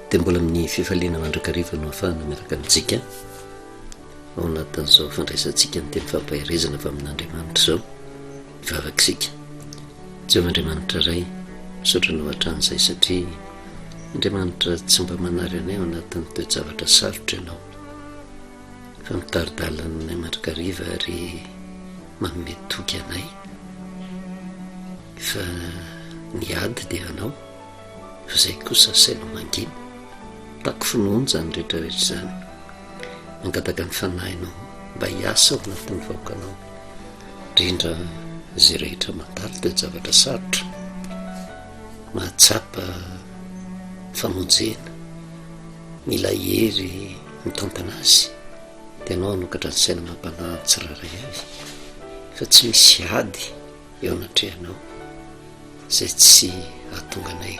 dia mbola amin'ny fifaliana mandrakariva no hafahana miaraka amintsika ao anatin'izao fandraisantsika ny teny fampaherezana fa amin'andriamanitra izao vavakisika tsy eo andriamanitra ray misaotra anao hatranyizay satria andriamanitra tsy mba manary anay ao anatin'ny toejavatra sarotra ianao Fa mitari-dalana anay mandrakariva ary manome toky anay fa ny ady dia anao fa izay kosa asainao mangina. Tako finoana izany rehetra rehetra izany. Mangataka ny fanahinao mba hiasa ao anatin'ny vahoakanao indrindra izay rehetra mandalo dia zavatra sarotra mahatsapa famonjena. Mila hery mitantana azy dia anao hanokatra ny saina amam-panahy ny tsirairay avy fa tsy misy ady eo anatrehanao izay tsy hahatonga anay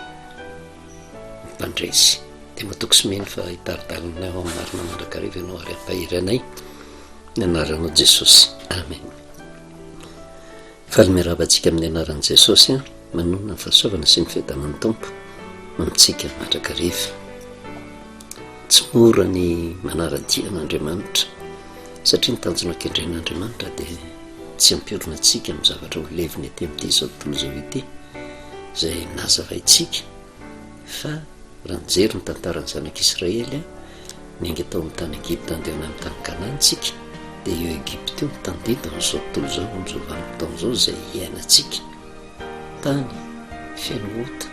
mpandresy dia matoky sy mino fa hitari-dalana ao amin'ny marina mandrakariva ianao ary hampahery anay ny anaranao Jesosy amen Faly miarahaba antsika amin'ny anaran'i Jesosy an! Manonona ny fahasoavana sy ny fiadanan'ny Tompo ho amintsika mandrakariva. Tsy mora ny manara-dia an'Andriamanitra satria ny tanjona kendren'Andriamanitra dia tsy hampiorina antsika amin'ny zavatra ho levona ety amin'ity izao tontolo izao ity izay nazavaintsika. Fa raha nijery ny tantaran'ny zanak'Israely niainga tao amin'ny tany Egypta handeha any amin'ny tany Kanana isika dia io Egypta io no tandindona amin'izao tontolo izao eo amin'izao vanim-potoana izao izay iainantsika. Tany feno ota,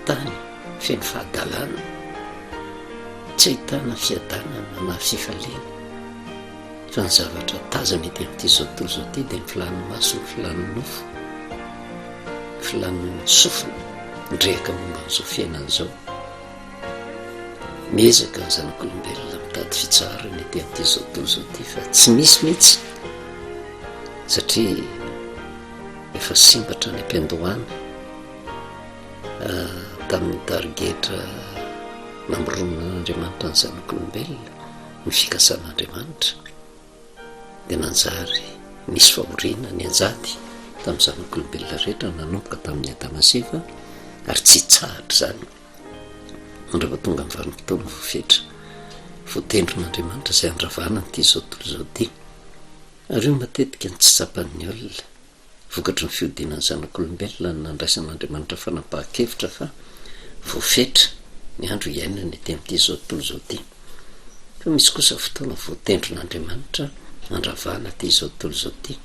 tany feno fahadalana, tsy ahitana fiadanana na fifaliana. Fa ny zavatra tazana ety amin'ity zao tontolo izao ity dia ny filan'ny maso, ny filan'ny nofo, ny filan'ny sofina, nirehaka momba an'izao fiainana izao. Miezaka ny zanak'olombelona mitady fitsaharana ety amin'ity zao tontolo izao ity fa tsy misy mihitsy satria efa simbatra ny am-piandohana ah, tamin'ny tarigetra namoronan'Andriamanitra ny zanak'olombelona. Ny fikasan'Andriamanitra dia nanjary nisy fahoriana nianjady tamin'ny zanak'olombelona rehetra nanomboka tamin'i Adama sy Eva ary tsy hitsahatra izany mandra vao tonga amin'ny vanim-potoana voafetra voatendrin'Andriamanitra izay handravana an'ity izao tontolo izao ity. Ary io matetika no tsy tsapan'ny olona. vokatry ny fihodinan'ny zanak'olombelona ny nandraisan'Andriamanitra fanapahan-kevitra fa voafetra ny andro hiainany ety amin'ity izao tontolo izao ity. Fa misy kosa fotoana voatendrin'Andriamanitra handravana ity izao tontolo izao ity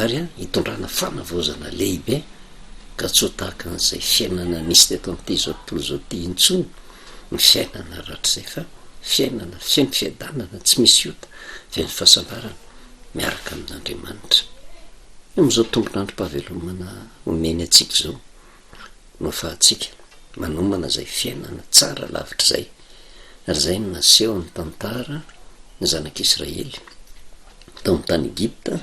ary hitondrana fanavaozana lehibe ka tsy ho tahaka an'izay fiainana nisy teto amin'ity izao tontolo izao ity intsony ny fiainana rahatrizay fa fiainana feno fiadanana tsy misy ota feno fahasambarana miaraka amin'Andriamanitra. Amin'izao tombon'androm-pahavelomana omeny antsika izao no ahafahantsika manomana izay fiainana tsara lavitr'izay, ary izay no nasehon'ny tantara ny zanak'Israely tao amin'ny tany Egypta,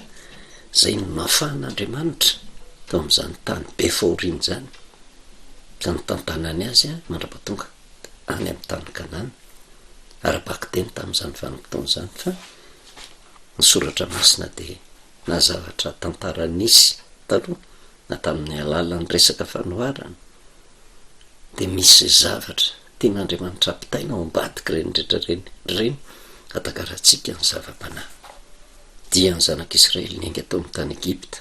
izay no nafahan'Andriamanitra tao amin'izany tany be fahoriana izany, ka nitantanany azy mandra-pahatonga any amin'ny tany Kanana, ara-bakiteny tamin'izany vanim-potoana izany fa, Ny Soratra Masina dia na zavatra tantara nisy taloha na tamin'ny alalan'ny resaka fanoharana dia misy zavatra tian'Andriamanitra hampitaina ao ambadik'ireny rehetra ireny ireny hatakarantsika ny zava-panahy dian'ny zanak'Israely niainga tao amin'ny tany Egypta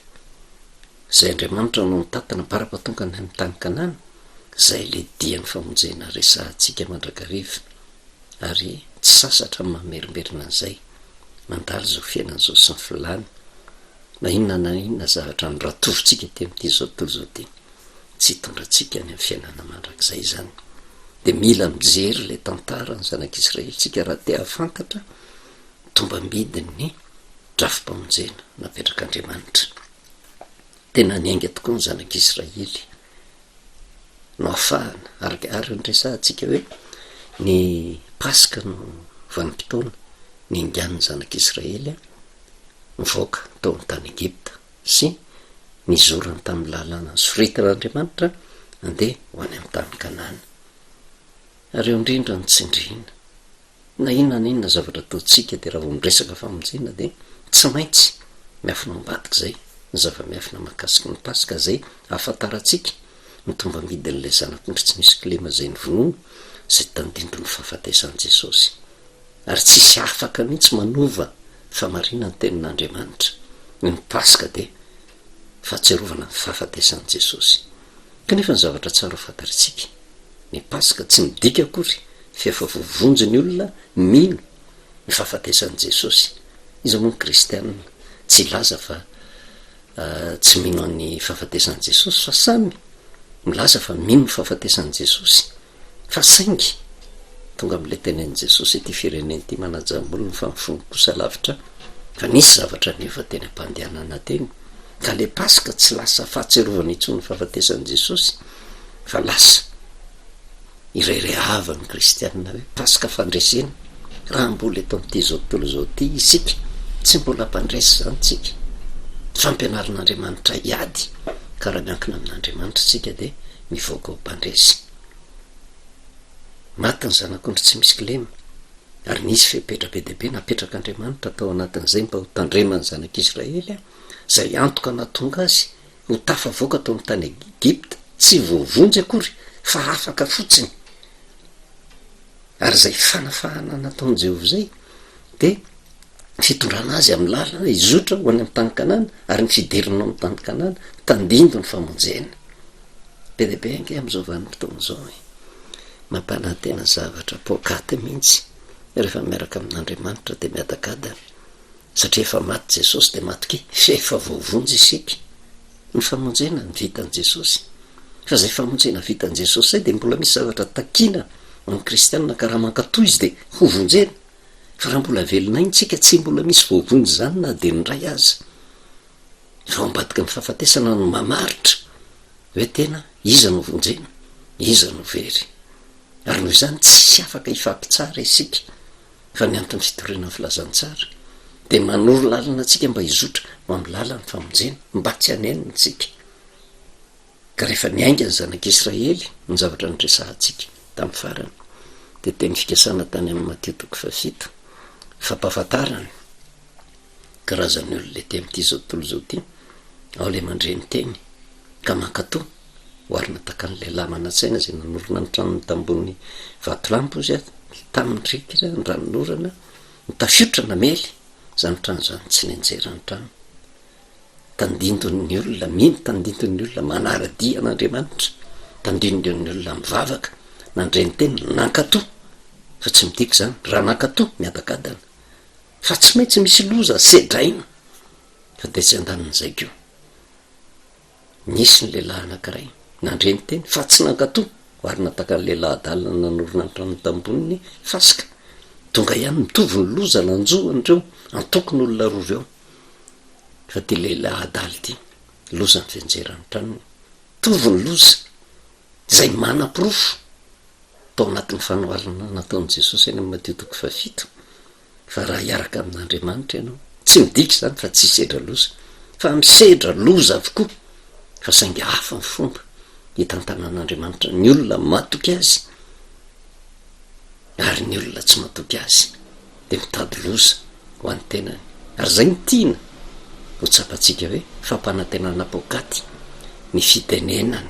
izay Andriamanitra no nitatana bara-patongany amin'ny tany Kanana izay ilay dian'ny famonjena resahantsika mandrakariva ary tsy sasatra ny mamerimberina an'izay, mandalo izao fiainana izao sy ny filàny, na inona na inona zavatra niratovintsika aty amin'ity zao tontolo izao ity, tsy hitondra antsika any amin'ny fiainana mandrakizay izany. Dia mila mijery ilay tantara ny zanak'Israelintsika raha te hahafantatra ny tombambidin'ny drafi-pamonjena napetrak'Andriamanitra. Tena niainga tokoa ny zanak'Israely. no afahana araka araka ny resahantsika hoe ny paska no vanim-potoana niaingan'ny zanak'israely nivoaka tao amin'ny tany egypta sy nizorany tamin'ny lalana soritan'andriamanitra andeha ho any amin'ny tany kanana ary eo indrindra ny tsindriana Na inona na inona zavatra ataontsika dia raha vao miresaka famonjena dia tsy maintsy miafina ao ambadika izay ny zava-miafina mahakasika ny Paska izay ahafantarantsika ny tombambidin'ilay Zanak'ondry tsy misy kilema izay novonoina izay tandindon' ny fahafatesan'i Jesosy. Ary tsy hisy afaka mihitsy manova famarinan'ny Tenin'Andriamanitra. Ny Paska dia fahatsiarovana ny fahafatesan'i Jesosy. Kanefa ny zavatra tsara ho fantarintsika, ny Paska tsy midika akory fa efa voavonjy ny olona mino ny fahafatesan'i Jesosy. Iza moa ny kristiana tsy hilaza fa tsy mino an'ny fahafatesan'i Jesosy? Fa samy milaza fa mino ny fahafatesan'i Jesosy. Fa saingy, tonga amin'ilay tenenin'i Jesosy ity firenena ity manaja ny olony fa ny fony kosa lavitra, fa nisy zavatra niova teny am-pandehanana teny, ka ilay Paska tsy lasa fahatsiarovana intsony ny fahafatesan'i Jesosy, fa lasa iray rehahavan'ny kristiana hoe Paska fandresena, raha mbola eto amin'ity izao tontolo izao ity isika, tsy mbola mpandresy izany isika, fampianarin'Andriamanitra hiady ka raha miankina amin'Andriamanitra isika dia ny vaovao mpandresy. Maty ny zanak'ondry tsy misy kilema, ary nisy fepetra be dia be napetrak'Andriamanitra tao anatin'izay mba ho tandreman'ny zanak'Israely izay antoka nahatonga azy ho tafavoaka tao amin'ny tany Egypta, tsy voavonjy akory fa afaka fotsiny. Ary izay fanafahana nataon'i Jehovah izay dia fitondrana azy amin'ny lalana hizotra ho any amin'ny tany Kanana ary ny fidiriny ao amin'ny tany Kanana tandindoy ny famonjena. Be dia be ange amin'izao vanim-potoana izao e! Mampanantena zavatra poakaty mihitsy rehefa miaraka amin'Andriamanitra dia miadagadana satria efa maty Jesosy dia matokia fa efa voavonjy isika. Ny famonjena ny vitan'i Jesosy. Fa izay famonjena vitan'i Jesosy izay dia mbola misy zavatra takiana amin'ny kristianina ka raha mankatò izy dia hovonjena. Fa raha mbola velona ainy tsika tsy mbola misy voavonjy izany na dia indray aza. Ireo ambadiky ny fahafatesana no mamaritra hoe tena iza no vonjena, iza no very. Ary noho izany tsy afaka hifampitsara isika fa ny anton'ny fitoriana ny filazantsara dia manoro lalana antsika mba hizotra ho amin'ny lalan'ny famonjena mba tsy hanenina isika. Ka rehefa niainga ny zanak'Israely ny zavatra niresahantsika tamin'ny farany, dia teny fikasana tany amin'ny Matio toko fahafito, fampahafantarana ny karazan'ny olona ety amin'ity izao tontolo izao ity, ao ilay mandre ny teny ka mankato, oharina tahaka an'ilay lahy manan-tsaina izay nanorina ny tranony tambony vatolampy ozy aho, tamin'ny riakira, ny ranon'orana, ny tafiotra namely izany trano izany tsy nenjera ny trano. Tandindon'ny olona mino, tandindon'ny olona manara-dia an'Andriamanitra, tandindon'ny olona mivavaka, nandre ny Teniny, nankato, fa tsy midika izany, raha nankato, miadagadana, fa tsy maintsy misy loza sedraina, fa dia tsy andanin'izay koa. Nisy ny lehilahy anankiray, nandre ny Teny, fa tsy nankato, ary natakan'ny lehilahy adala nanorina ny tranony tambohon'ny fasika. Tonga ihany, mitovy ny loza nanjo an'ireo antokon'olona roa ireo. Fa ty lehilahy adala ty loza ny fianjeran'ny tranony, mitovy ny loza izay manaporofo tao anatin'ny fanoharana nataon'i Jesosy any amin'ny Matio toko fahafito fa raha hiaraka amin'Andriamanitra ianao, tsy midika izany fa tsy hisedra loza fa misedra loza avokoa fa saingy hafa ny fomba hitantanan'Andriamanitra ny olona matoky Azy. Ary ny olona tsy matoky azy dia mitady loza ho an'ny tenany. Ary izay no tiana ho tsapantsika hoe fampanantenana poakaty ny fitenenana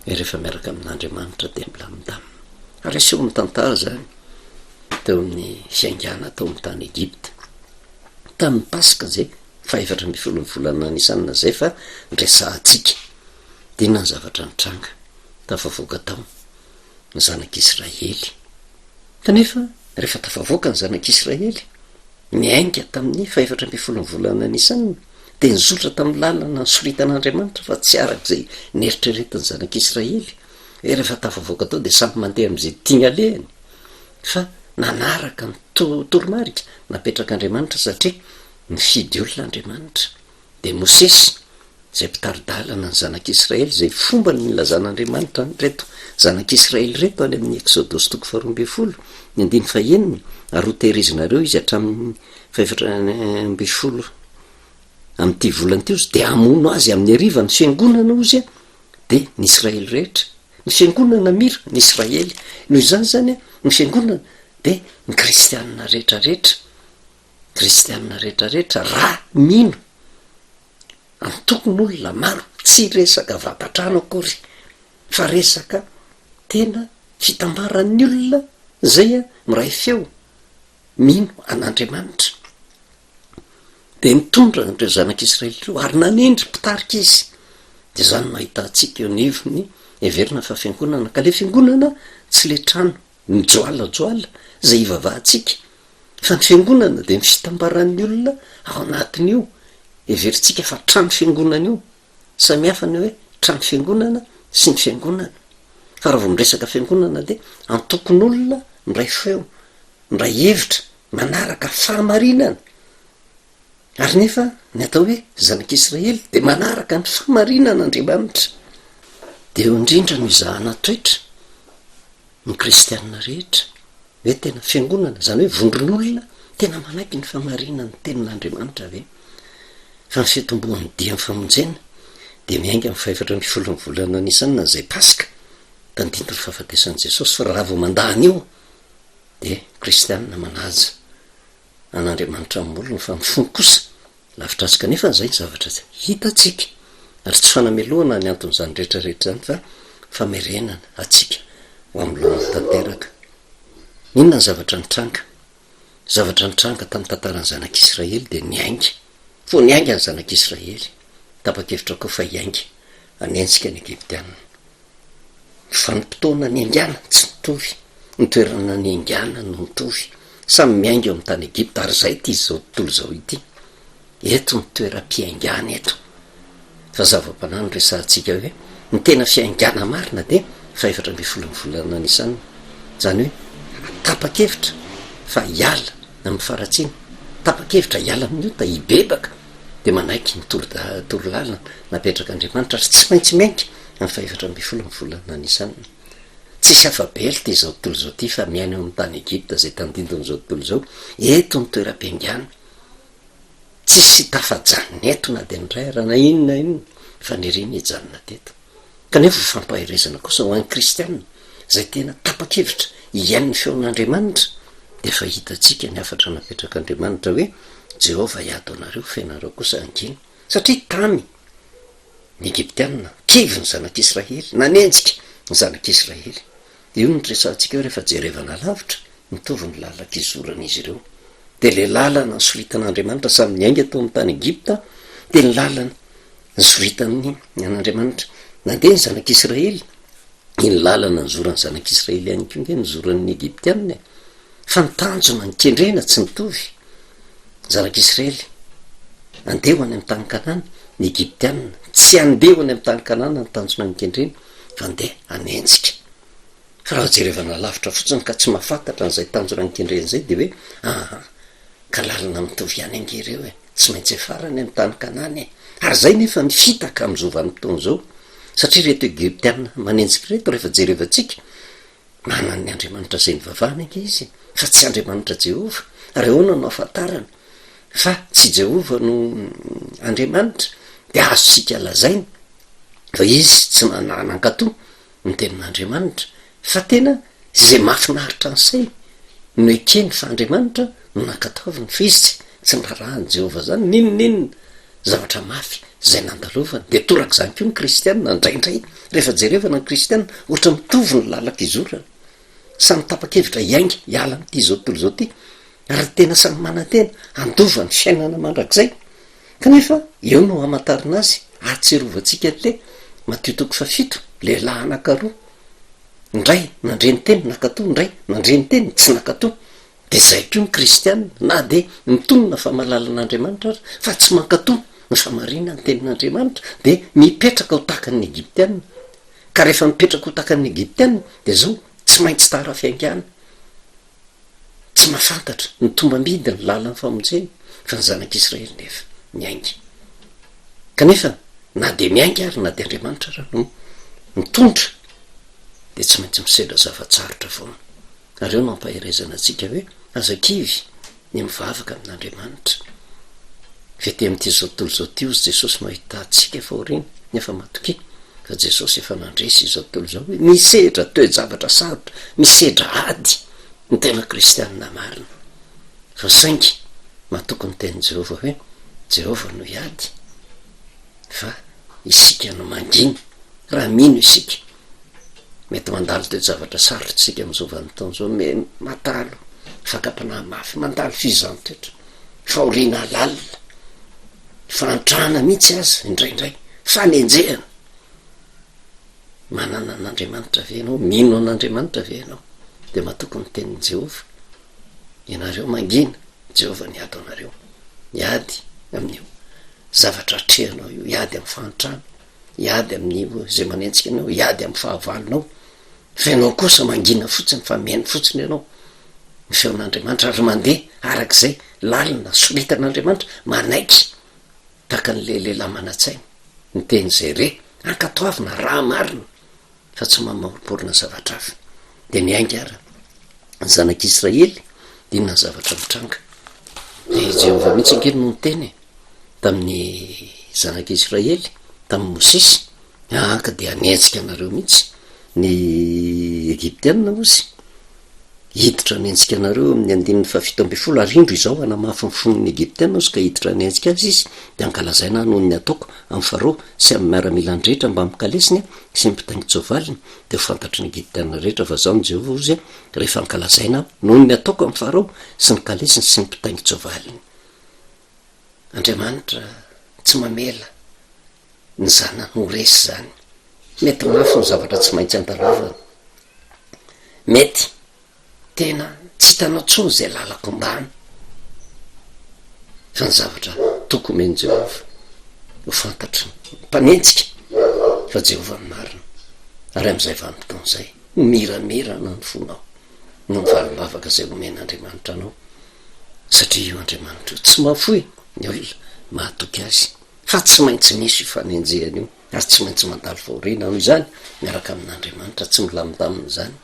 hoe rehefa miaraka amin'Andriamanitra dia milamindamina. Ary aseho amin'ny tantara izany teo amin'ny fiaingàna tao amin'ny tany Egypta. Tamin'ny Paska izay fahefatra ambin'ny folon'ny volana Nisana izay fa resahantsika dia inona ny zavatra nitranga tafavoaka tao? ny zanak'Israely. Kanefa, rehefa tafavoaka ny zanak'Israely, niainga tamin'ny fahefatra ambin'ny folon'ny volana Nisana, dia nizotra tamin'ny lalana nosoritan'Andriamanitra fa tsy araka izay neritreretin'ny zanak'Israely, hoe rehefa tafavoaka tao dia samy mandeha amin'izay tiany alehany, fa nanaraka ny toromarika napetrak'Andriamanitra satria nifidy olona Andriamanitra. dia Mosesy, izay mpitari-dalana ny zanak'Israely, izay fomba ny nilazan'Andriamanitra an'ireto zanak'Israely ireto any amin'ny Eksodosy toko faharoa ambin'ny folo, ny andininy fahenina, ary hotehirizinareo izy hatramin'ny fahefatra ambin'ny folo amin'ity volana ity ozy, dia hamono azy amin'ny hariva ny fiangonana ozy a, dia ny Israely rehetra, ny fiangonana mira, ny Israely, noho izany izany a, ny fiangonana, dia ny kristianina rehetrarehetra. Kristianina rehetra rehetra raha mino amin'ny tokony olona maro, tsy resaka vata-trano akory fa resaka tena fitambaran'ny olona zay a miray feo mino an'Andriamanitra de nitondra an'ireo zanak'Israely ireo ary nanendry mpitarika izy de zany no ahitantsika eo anivon'ny heverina fa fiangonana ka le fiangonana tsy le trano Mijoalajoala izay hivavahantsika, fa ny Fiangonana dia ny fitambaran'ny olona ao anatin'io heverintsika fa trano Fiangonana io. Samy hafa ny hoe trano Fiangonana sy ny Fiangonana. Fa raha vao miresaka Fiangonana dia antokon'olona miray feo, miray hevitra, manaraka fahamarinana. Ary nefa ny atao hoe zanak'Israely dia manaraka ny fahamarinan'Andriamanitra. Dia eo indrindra no izahana toetra. Ny kristiana rehetra ve tena fiangonana, izany hoe vondron'olona tena manaiky ny famarinan'ny tenin'Andriamanitra ve? Fa ny fitomboan'ny dian'ny famonjena dia miainga amin'ny fahefatra ambin'ny folon'ny volana Nisana izay Paska, tandindon'ny fahafatesan'i Jesosy, fa raha vao mandà an'io dia kristiana manaja. an'Andriamanitra amin'ny olony fa amin'ny fony kosa. Lavitr'antsika anefa izay zavatra tsy hitantsika, ary tsy fanamelohana ny anton'izany rehetra rehetra izany fa famerenana antsika ho amin'ny lalana tanteraka. Inona ny zavatra nitranga? Ny zavatra nitranga tamin'ny tantaran'ny zanak'Israely dia niainga Fony niainga ny Zanak'Israely, tapa-kevitra koa fa hiainga hanenjika ny Egyptiana. Ny vanim-potoana niaingàna tsy nitovy, ny toerana niaingàna no nitovy. Samy miainga eo amin'ny tany Egypta, ary izay ity izao tontolo izao ity. Eto ny toeram-piaingàna eto. Fa zava-panahy no resahantsika hoe ny tena fiaingàna marina dia fahefatra ambin'ny folo ny volana Nisan. Izany hoe tapa-kevitra fa hiala amin'ny faharatsiana, tapa-kevitra hiala amin'ny ota, hibebaka dia manaiky ny torolalana napetrak'Andriamanitra ary tsy maintsy miainga amin'ny fahefatra ambin'ny folo ny volana Nisan. Tsisy afa-belota izao tontolo izao ity fa miaina eo amin'ny tany Egypta izay tandindon'izao tontolo izao eto ny toeram-piaingàna. Tsisy tafajanona eto na dia ny iray ara na inona na inona faniriany hijanona teto. Kanefa ho fampaherezana kosa ho an'ny kristiana izay tena tapa-kevitra hihaino ny feon'Andriamanitra, dia efa hitantsika ny hafatra napetrak'Andriamanitra hoe, Jehovah hiady ho anareo fa ianareo kosa hangina. Satria tamy ny Egyptiana, kivy ny zanak'Israely, nanenjika ny zanak'Israely. Dia io no niresahantsika hoe rehefa jerevana alavitra, mitovy ny lalan-kizoran'izy ireo. Dia ilay lalana nisoritan'Andriamanitra samy niainga tao amin'ny tany Egypta, dia ny lalana nisoritan'ny an'Andriamanitra. Nandeha ny zanak'Israely, iny lalana nizoran'ny zanak'Israely ihany koa ange nizoran'ny Egyptiana e! fa ny tanjona ny kendrena tsy mitovy, ny zanak'Israely andeha ho any amin'ny tany Kanana, ny Egyptiana tsy andeha ho any amin'ny tany Kanana ny tanjona ny kendrena fa andeha hanenjika. Fa raha jerevana lavitra fotsiny ka tsy mahafantatra an'izay tanjona ny kendrena izay dia hoe aha, ka lalana mitovy ihany ange ireo e, tsy maintsy hiafara any amin'ny tany Kanana e! Ary izay nefa ny fitaka amin'izao vanim-potoana izao satria ireto Egyptiana manenjika ireto rehefa jerevantsika Manan'ny Andriamanitra izay nivavahany ange izy, fa tsy Andriamanitra Jehovah. Ary ahoana no ahafantarana fa tsy Jehovah no Andriamanitra? Dia azontsika lazaina fa izy tsy nanahy nankatò ny tenin'Andriamanitra, fa tena izay mahafinaritra ny sainy no ekeny fa Andriamanitra no nankatoaviny, fa izy tsy narahany Jehovah izany n'inon'inona. Zavatra mafy izay nandalovany. Dia torak'izany koa ny kristiana, indraindray, rehefa jerevana ny kristiana, ohatra mitovy ny lalan-kizorana. Samy tapa-kevitra hiainga hiala amin'ity izao tontolo izao ity, ary tena samy manantena handova ny fiainana mandrakizay. Kanefa, eo no hamantarana azy, ahatsiarovantsika an'ilay, Matio toko fahafito, lehilahy anankiroa, ny iray nandre ny teny, nankato, ny iray nandre ny teny, tsy nankato. Dia izay koa ny kristiana, na dia mitonona fa mahalala an'Andriamanitra aza, fa tsy mankato ny famarinan'ny tenin'Andriamanitra, dia mipetraka ho tahaka ny Egyptiana. Ka rehefa mipetraka ho tahaka ny Egyptiana, dia izao, tsy maintsy tara fiaingàna, tsy mahafantatra ny tombam-bidy ny lalan'ny famonjena, fa ny zanak'Israely nefa miainga. Kanefa, na dia miainga ary na dia Andriamanitra aza no mitondra, dia tsy maintsy misedra zava-tsarotra foana. Nareo no ampaherezana antsika hoe aza kivy ny mivavaka amin'Andriamanitra. F'ety amin'ity zao tontolo zao ty ozy Jesosy no ahitantsika fahoriana nefa matokia fa Jesosy efa nandresy izao tontolo izao hoe misedra toe-javatra sarotra, misedra ady ny tena kristianina marina. Fa saingy matoky ny tenin'i Jehovah hoe Jehovah no hiady fa isika no mangina raha mino isika Mety mandalo toe-javatra sarotra isika amin'izao vanim-potoana izao, me mandalo fakam-panahy mafy, mandalo fihizan-toetra, fahoriana lalina, fahantrana mihitsy aza indraindray, fanenjehana. Manana an'Andriamanitra ve ianao? Mino an'Andriamanitra ve ianao? Dia matoky ny tenin'i Jehovah. Ianareo mangina, Jehovah niady ho anareo. Miady amin'io zavatra atrehanao io, hiady amin'ny fahantrana, Hiady amin'io izay manenjika anao, hiady amin'ny fahavalonao, fa ianao kosa mangina fotsiny fa mihaino fotsiny ianao ny feon'Andriamanitra ary mandeha araka izay lalina soritan'Andriamanitra, manaiky tahaka an'ilay lehilahy manan-tsaina ny teny izay re, ankatoavina raha marina fa tsy mamoromporona zavatra hafa. Dia niainga ary ny zanak'Israely, dia inona ny zavatra nitranga? Dia i Jehovah mihitsy ange no niteny e, tamin'ny zanak'Israely, tamin'i Mosesy, Anka dia hanenjika anareo mihitsy ny Egyptiana hozy. Hiditra ny antsikanareo amin'ny andininy fahafito ambin'ny folo, ary indro izao hanamafy ny fon'ny Egyptiana aho sy ka hiditra ny antsika azy izy, dia hankalazaina ahy noho ny ataoko amin'i Farao sy amin'ny miaramilany rehetra mbamin'ny kalesiny sy ny mpitaingin-tsoavaliny, dia ho fantatry ny Egyptiana rehetra fa izaho ny Jehovah ozy rehefa hankalazaina ahy noho ny ataoko amin'i Farao sy ny kalesiny sy ny mpitaingin-tsoavaliny. Andriamanitra tsy mamela ny zanany ho resy izany. Mety mafy ny zavatra tsy maintsy andalovanao. Mety tena tsy hitanao intsony izay lalako ambany, fa ny zavatra tokony omen'i Jehovah ho fantatry ny mpanenjika fa Jehovah no marina, ary amin'izay vanim-potoana izay, ho miramirana ny fonao noho ny valim-bavaka izay homen'Andriamanitra anao, satria io Andriamanitra io tsy mahafoy ny olona mahatoky azy. fa tsy maintsy misy io fanenjehana io ary tsy maintsy mandalo fahoriana aho izany miaraka amin'andriamanitra tsy milamindamina izany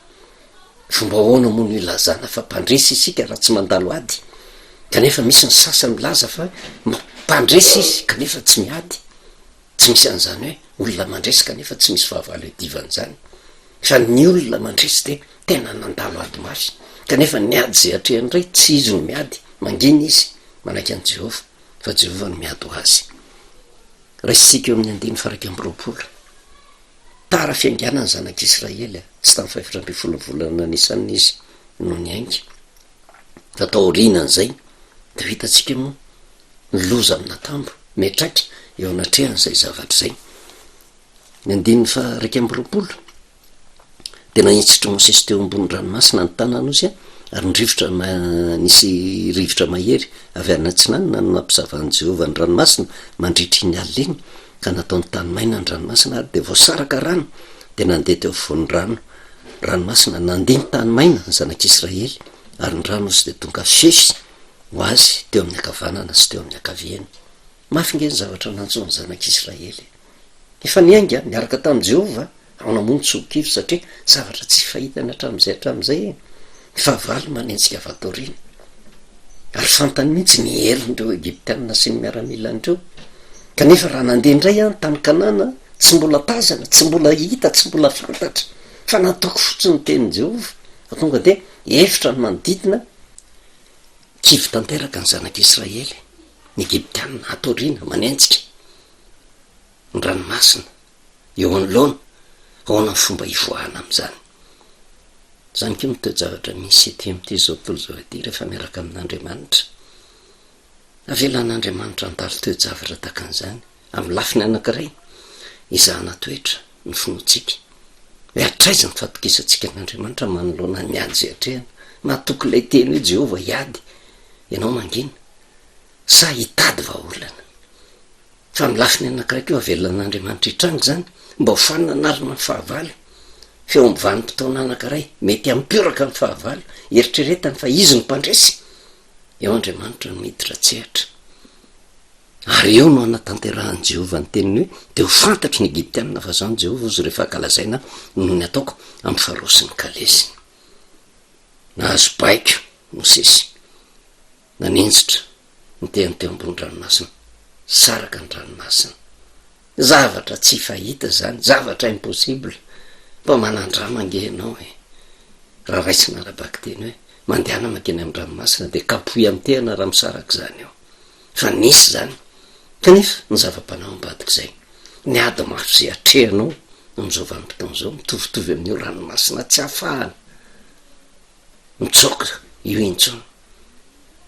fomba ahoana moa no ilazana fa mpandresy isika raha tsy mandalo ady kanefa misy ny sasa milaza fa mampandresy izy kanefa tsy miady tsy misy an'izany hoe olona mandresy kanefa tsy misy fahavalo edivana izany fa ny olona mandresy dia tena nandalo ady mafy kanefa ny ady izay atrehan'iray tsy izy no miady mangina izy manaiky an'i jehovah fa Jehovah no miady ho azy. Raisintsika eo amin'ny andiny faraika amby roapolo. Tara fiainganan'ny zanak'Israely, tsy tamin'ny fahefatra ambin'ny folo ny volana Nisana izy no niainga. Fa taorianan'izay, dia ho hitantsika moa ny loza amin'ny natambo miatraka eo anatrehan'izay zavatra izay. Ny andininy faraika amby roapolo. Dia nahentsitr'i Mosesy teo ambonin'ny ranomasina ny tanan'Osy, ary ny rivotra na, nisy rivotra mahery avy any atsinanana no nampizavan'i Jehovah ny ranomasina mandritra iny alina iny, ka nataony tany maina ny ranomasina, ary dia voasaraka rano, dia nandeha teo afovoan'ny rano, ranomasina, nandeha ny tany maina ny zanak'Israely, ary ny ran'Osy dia tonga fefy ho azy teo amin'ny ankavanana sy teo amin'ny ankaviany. Mafy ange ny zavatra nantsoin'ny zanak'Israely e! Efa niainga niaraka tamin'i Jehovah aho namono tsokivy satria zavatra tsy fahitany hatramin'izay hatramin'izay e! Ny fahavalo manome antsika fatoriana. Ary fantany mihitsy ny herin'ireo Egyptiana sy ny miaramilany ireo. Kanefa raha nandeha indray aho ny tany Kanana, tsy mbola tazana, tsy mbola hita, tsy mbola fantatra, fa nataoko fotsiny ny tenin'i Jehovah, fa tonga dia efitra ny manodidina, kivy tanteraka ny zanak'Israely, ny Egyptiana hatoriana, manenjika. ny ranomasina eo anoloana, ahoana ny fomba hivoahana amin'izany? Izany koa no toe-javatra misy ety amin'ity izao tontolo izao ity rehefa miaraka amin'Andriamanitra. Avelan'Andriamanitra handalo toe-javatra tahaka an'izany, amin'ny lafiny anankiray, hizahana toetra ny finoantsika. Hoe hatraiza ny fatokisantsika an'Andriamanitra manoloana ny ady izay atrehana? Mahatoky ilay teny hoe Jehovah hiady, ianao mangina. sa hitady vahaolana? Fa amin'ny lafiny anankiray koa avelona an'Andriamanitra hitranga izany mba ho fananarana ny fahavalo, f'eo amin'ny vanim-potoana anankiray mety hampioraka ny fahavalo, eritreretany fa Izy no Mpandresy, eo Andriamanitra no miditra an-tsehatra. Ary eo no hanatanterahan'i Jehovah ny teniny hoe, Dia ho fantatry ny Egyptianina fa Izaho no Jehovah, hozy rehefa ankalazaina aho noho ny ataoko amin'i Farao sy ny kalesiny. Nahazo baiko Mosesy. Nanenjitra ny tehany teo ambony ranomasina, saraka ny ranomasina. Zavatra tsy fahita izany, zavatra impossible. Mba manan-drano ange ianao e! Raha raisina ara-bakiteny hoe, mandehana mankeny amin'ny ranomasina dia kapohy amin'ny tehana raha misaraka izany eo. Fa nisy izany. Kanefa ny zava-panahy ao ambadik'izay, ny ady mafy izay atrehanao amin'izao vanim-potoana izao, mitovitovy amin'io ranomasina tsy afahana. mitsoaka io intsony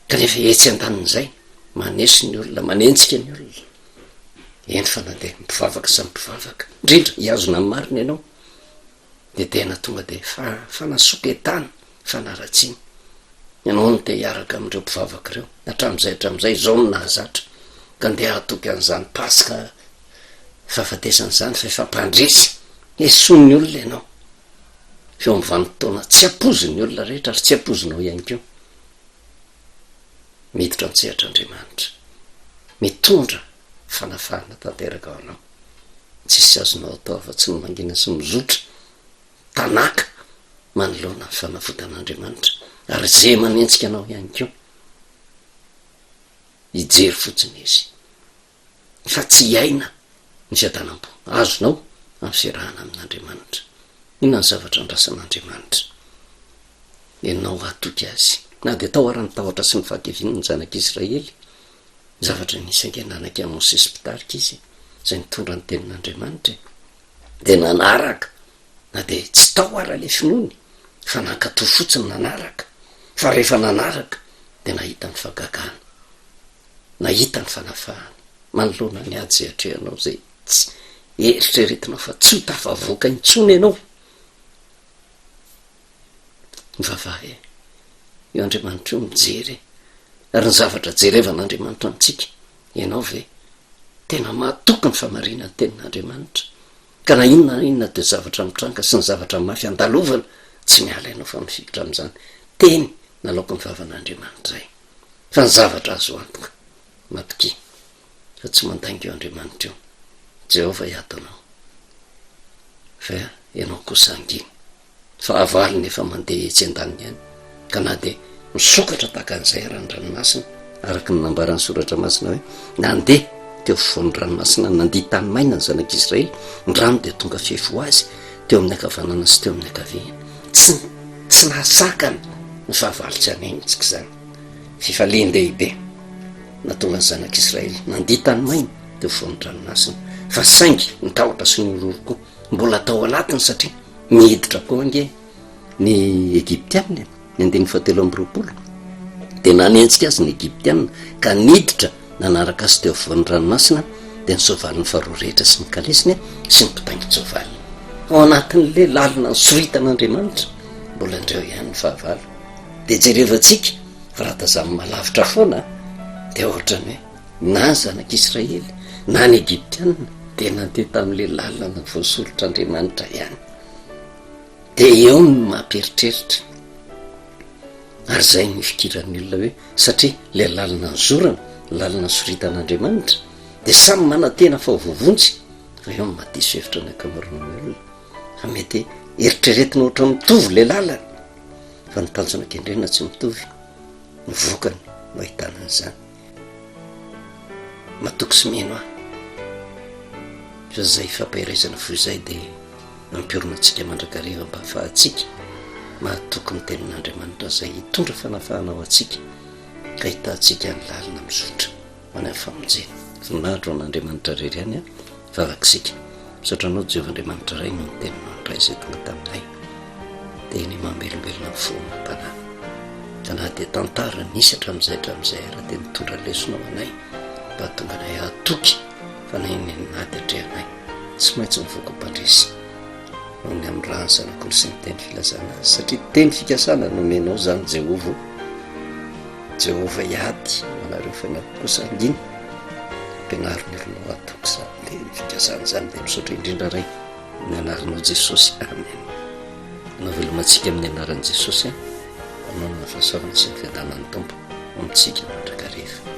ka rehefa etsy an-danin'izay maneso ny olona manenjika ny olona eny fa na dia mpivavaka samy mpivavaka indrindra hiazona ny marina ianao dia tena tonga dia fa fanasoketana fanaratsiana ianao no te hiaraka amin'ireo mpivavaka ireo hatramin'izay hatramin'izay izao no nahazatra ka ndeha hatoky an'izany paska fahafatesana izany fa efa mpandresy esoin'ny olona ianao eo amin'ny vanim-potoana tsy ampoizin'ny olona rehetra ary tsy ampoizinao ihany koa. Miditra an-tsehatra Andriamanitra. Mitondra fanafahana tanteraka ho anao. Tsisy azonao atao afa-tsy ny mangina sy mizotra tanàka manoloana ny fanavotan'Andriamanitra ary izay manenjika anao ihany koa hijery fotsiny izy. fa tsy hiaina ny fiadanam-po azonao amin'ny fiarahana amin'Andriamanitra. Inona ny zavatra andrasan'Andriamanitra ianao hatoky Azy? Na dia tao ara ny tahotra sy ny fahadiviana ny zanak'Israely, zavatra nisainga nanaika an'i Mosesy mpitarika izy, izay nitondra ny tenin'Andriamanitra, dia nanaraka, na dia tsy tao ara ilay finoany, fa nankatò fotsiny nanaraka, fa rehefa nanaraka dia nahita ny fagagana. nahita ny fanafahana manoloana ny ady izay atrehanao izay tsy eritreretinao fa tsy ho tafavoaka intsony ianao. Mivavaha e! Io Andriamanitra io mijery e! Ary ny zavatra jerevan'Andriamanitra antsika, ianao ve tena mahatoky ny famarinan'ny tenin'Andriamanitra? Ka na inona na inona dia zavatra mitranga sy ny zavatra mafy andalovana tsy miala ianao fa mifikitra amin'izany teny nalaoko ny vavan'Andriamanitra izay. Fa ny zavatra azo antoka, matokia fa tsy mandainga eo Andriamanitra eo. Jehovah hiato anao, fa ianao kosa hangina. Ny fahavalony efa mandeha etsy an-daniny any, ka na dia misokatra tahaka an'izay ara ny ranomasina, araka ny nambaran'ny Soratra Masina hoe, Nandeha teo afovoan'ny ranomasina nandia tany maina ny zanak'Israely, ny rano dia tonga fefy ho azy teo amin'ny ankavanana sy teo amin'ny ankaviany. Tsy tsy nahasakana ny fahavalo tsy haneno antsika izany. Fifalian-dehibe nahatonga ny zanak'Israely nandia tany maina teo afovoan'ny dranomasina. Fa saingy ny tahotra sy ny horohoro koa mbola tao anatiny satria niditra koa ange ny Egyptiana e, ny andininy fahatelo amby roapolo. Dia nanenjika azy ny Egyptiana ka niditra nanaraka azy teo afovoan'ny ranomasina dia ny soavaliny faharoa rehetra sy ny kalesiny sy ny mpitaingin-tsoavaliny ao anatin'le lalina ny soritan'andriamanitra mbola indreo ihany ny fahavalo dia jerevantsika fa raha tazamin'ny malavitra foana dia ohatrany hoe na ny zanak'israely na ny egiptiana dia nandeha tamin'le lalana voasoritr'andriamanitra ihany dia eo ny mampieritreritra Ary izay no ifikiran'ny olona hoe satria ilay lalana nizorana, ny lalana nisoritan'Andriamanitra, dia samy manantena fa ho voavonjy, fa eo no maha diso hevitra ny ankamaroan'ny olona, fa mety eritreretina ohatra ny mitovy ilay lalana, fa ny tanjona kendrena tsy mitovy, ny vokany no ahitana an'izany. matoky sy mino ahy fa izay ifampaherezana fo izay dia nampiorina antsika mandrakariva mba hahafahantsika mahatoky ny tenin'Andriamanitra izay hitondra fanafahana ho antsika ka hitantsika ny lalina mizotra ho any amin'ny famonjena. Voninahitra ho an'Andriamanitra irery ihany a. Vavaka isika. Misaotra Anao Jehovah Andriamanitra Ray noho ny Teninao indray izay tonga taminay. Teny mamelombelona ny fo amam-panahy. Ka na dia tantara nisy hatramin'izay hatramin'izay ara dia nitondra lesona ho anay mba hahatonga anay hahatoky fa na inona na inona ady atrehanay tsy maintsy mivoaka ho mpandresy. noho ny amin'ny rà ny zanak'olo sy ny teny filazana azy, satria teny fikasana no omenao izany Jehovah o. Jehovah hiady ho anareo fa ny ato kosa hangina. Ampianaro ny olonao hatoky izany teny fikasana izany. Dia misaotra indrindra Ray, amin'ny anaranao Jesosy. Amen. Anao veloma antsika amin'ny anaran'i Jesosy an. Anao no hahafahasoavana sy ny fiadanan'ny Tompo ho amintsika mandrakariva.